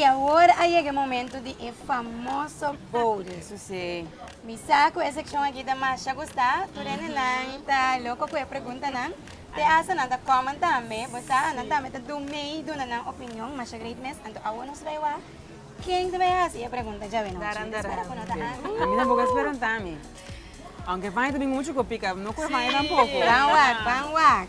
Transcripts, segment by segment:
Y awor a yega e momento di e famoso bode. Su si. Mi sa cu e seccion aki ta masha gusta, tur hende nan ta loco cu e preguntanan, te hasta nan ta common tambe, bo sa, nan tambe ta do mei duna nan opinion, masha great mes, anto awor nos bai wak ken ta bai haci e pregunta djawe nochi. Daran daran. Spera cu no ta ansi. A mi tampoco a spera ta mi. Aunke e fania ta bin mucho cu pica, no cu e fania tampoco. Ban wak, ban wak.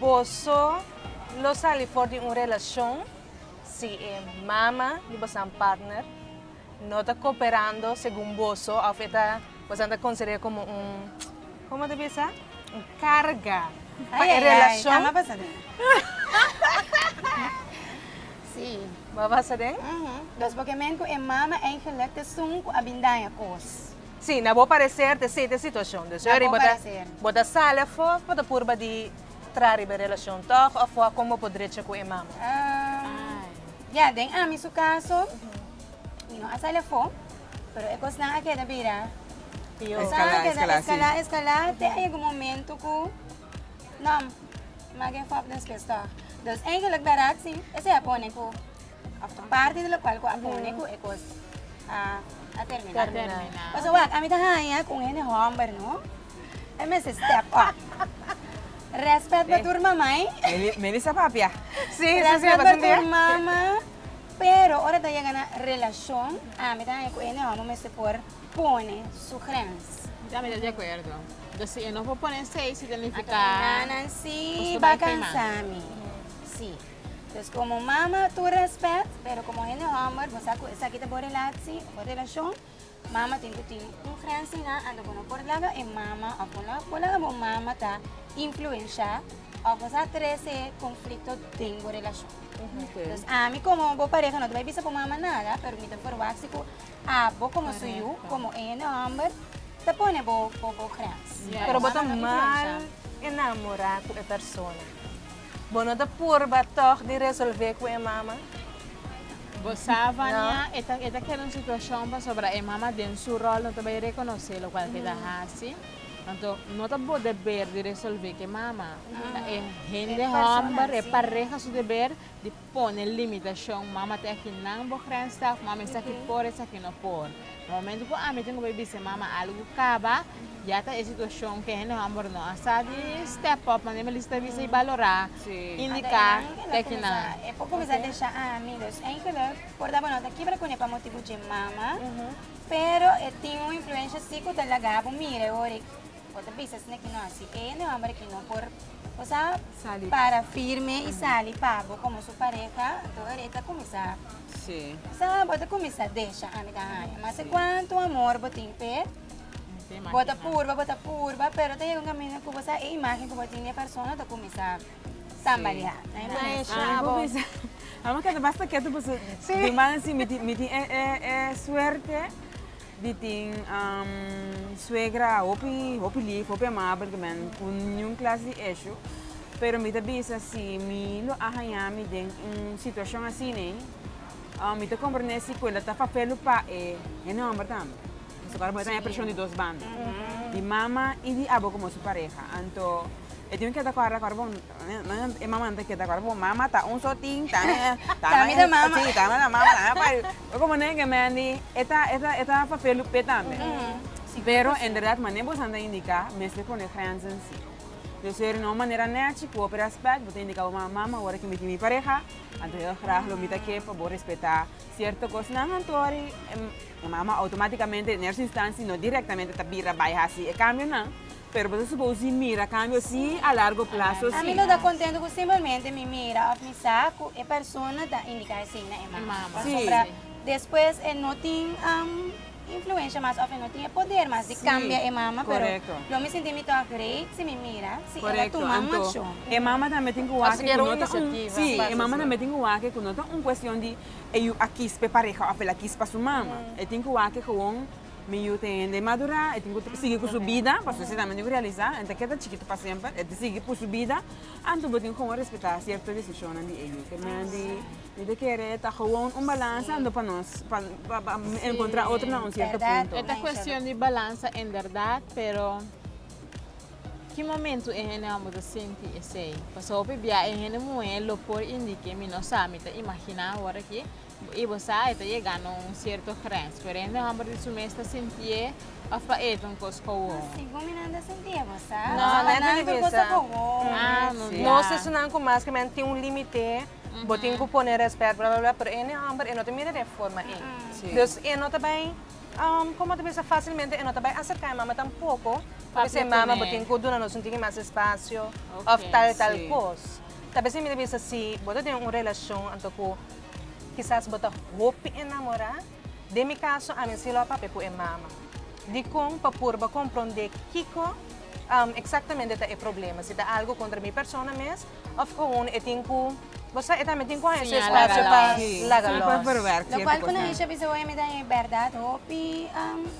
Boso lo sali for di un relashon si e mama di bosonan partner no ta koperando segun boso òf e ta bosonan ta konsider'é komo un komo ta bisa un karga pa e relashon? Bo a basa den? Nos bo ke men ku e mama eigelik t'esun ku a bin daña kos. Sí, na bo parecer ta esey ta situacion dus Na bo parecer. Bo ta sali afo bo ta purba di tra riba e relacion toch afo a con bo por drecha cu e mama? Ahh ya den ami su caso mi no a sali afo pero e cosnan a keda bira Pior. Cosnan a keda Escala, escala, sí. escala escala te a yega un momento cu no mage fop despues toch. Dus eigenlijk berat sí esey a pone cu. Parte di locual cu a pone cu e cos a termina. Pasobra wak, ami ta haya cu un hende homber no, e mester step up. Respet pa tur mamai. Meli sa papia. Respet pa tur mama, pero ora ta yega na relacion, ami ta haya cu hende homber mester por pone su grens. Mi tambe ta di acuerdo. Because si e no por pone seis significa. Nan nan si, bo a cansa mi. Si. Dus komo mama tur respet, pero komo hende hòmber, bo sa ku esaki ta bo relatsi o bo relashon, mama tin ku tin un grensina anto bo no por laga e mama òf bo no por laga bo mama ta influensha òf bo sa trese konflikto den bo relashon. Dus ami komo bo pareha no ta bai bisa bo mama nada, pero mi ta berwa si ku abo komo su yu, komo e hende hòmber ta pone bo grens. Pero bo ta mal enamorá ku e persona. Bo no ta purba tog di resolve cu e mama? Bo sa, Vania, e ta e ta keda un situacion pasobra e mama den su rol no ta bay reconoce locual cu e ta haci. Anto, no ta bo deber di resolve cu e mama. Ta e hende homber, e pareha su deber di. Pone limitashon, Mama ta esaki nan bo grens ta, of Mama esaki por esaki no por. Na momentu ku ami tin ku bai bisa Mama algu kaba, ya ta e situashon ku e hende hòmber no a sa di step up, manera mi a bisa ta bisa i balorá, indiká ta esaki nan. E por kuminsá desha ami, dus enkele por daba nota kiba kuné pa motibu dje Mama, pero e tin un influensha si ku ta laga bo mira e hora ei. Bo ta bisa esnan ki no hasi e na e homber aki no por cosa para firme y sali pabo como su pareha enton ere ta cuminsa sa bo ta cuminsa desha ami ta haña masa cuanto amor bo tin p'e bo ta purba bo ta purba pero ta yega un camino cu bo sa e imagen cu bo tin di e persona ta cuminsa. Samba di ha. Amo keda basta ketu paso mi man a si mi tin e suerte di tin suegra hopi hopi lif hopi amabel di nan cu niun klas di esho pero mi ta bisa si mi lo a haña mi den un situacion asina mi ta comprende si cuenda ta papel lo pa e nomber tambe. Pasobra ahora bo ta haña preshon di dos banda, di mama i di abo komo su pareha. Anto e tin keda ku ahora ku bo e mamanan ta keda ku ahora ku bo mama ta un so tin, ta mi ta mama, si ta mi ta mama, ta mi ta papaya. Bai komo nan e gemen di e ta e ta e ta papia loop p'e tambe. Pero en berdad mane bosan ta indiká mester pone grenzen si. Lo ser na un manera nechi ku hopi rèspèt bo ta indiká bo mama, mama wor aki mi tin mi pareha, anto hèl grag lo mi ta ke pa bo respetá sierto kosnan anto wòrdu E mama outomátikamente, den ersta instansi, no direktamente ta bira bai hasi e kambionan, pero bo ta supousí mira kambio sí a largo plaso sí. Mi no ta kontentu ku simplemente mi mira òf mi sa ku e persona ta indiká esei na e mama, pasobra despues e no tin influensha mas òf e no tin e poder mas di kambia e mama. Pero lo mi sintí mi tòg reit si mi mira si el a tuma un akshon. Kòrèkto. Anto, e mama tambe tin ku wak ku no ta un, sí, e mama tambe tin ku wak ku no ta un kuestion di e yu a kis pa e pareha òf el a kis pa su mama. E tin ku wak ke gewoon mi yu ta hende madurá, e tin ku sigui ku su bida, pasobra esei tambe mi tin ku realisá, e no ta keda chikito pa semper, e ta sigui ku su bida, anto bo tin ku gewoon respetá sierto desishonnan di e yu. Te men di mi ta kere ta gewoon un balansa anto pa nos pa enkontrá otro na un sierto punto. E ta kuestion di balansa en bèrdat, pero. Ki momentu e hende mambo ta sinti esei? Pasobra hopi bia e hende muhé lo por indiké, mi no sa, mi ta imaginá awor aki, i bo sa e ta yega na un sierto grens, pero e hende mambo di su mes ta sintié òf pa e ta un kos kowon. Asi ku minan ta sintié, bo sa? No, pa nan tur kos ta kowon. Ah, no bia. Nos esunnan ku maskemen tin un limite, bo tin ku pone rèspèt, bla bla bla, pero e hende mambo e no ta mira den forma ei. Dus e no ta bai. Um, como ta bisa facilmente e no ta bai acerca e mama tampoco, porque si e mama bo tin cu duna nos un tiki mas espacio okay, of tal e tal si. cos. Ta bisa mi ta bisa si bo ta den un relacion anto cu kisas bo ta hopi enamora, den mi caso ami si lo a papia cu e mama. Dicon? Pa purba compronde kico um exactamente ta e problema, si ta algo contra mi persona mes Of gewoon e tin ku, bo sa e tambe tin ku haña su espasio pa laga lòs. Lo kual ku nan Isha bisa hopi mi ta e bèrdat hopi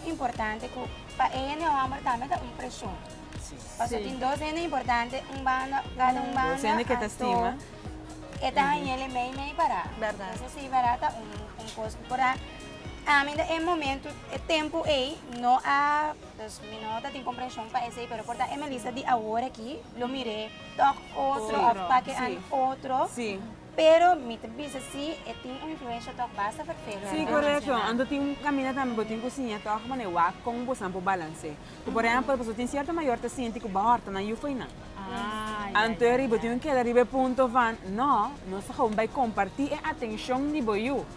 importante ku pa e hende hòmber tambe ta un preshon. Pasobra tin dos hende importante un banda, kada un banda anto e ta hañele meimei pará. Entonces si pará ta un kos ku por a ami den e momento, e tempu ei no a, pues mi no tatin komprenshon pa esei pero por ta e Melissa di awor aki lo mir'é. tok otro of pake an otro pero mi ta bisa si e tin un influensha tok basta fert feo na relacion nan. Si korekto anto tin un kaminda tambe bo tin ku siña tok manera wak kon bosanan por balans'é ku por ehempel pasobra tin sierto mayor ta sinti ku bo horta nan yufai nan anto bo tin ku keda riba e punto van no nos ta komo bai komparti e atenshon di bo yu.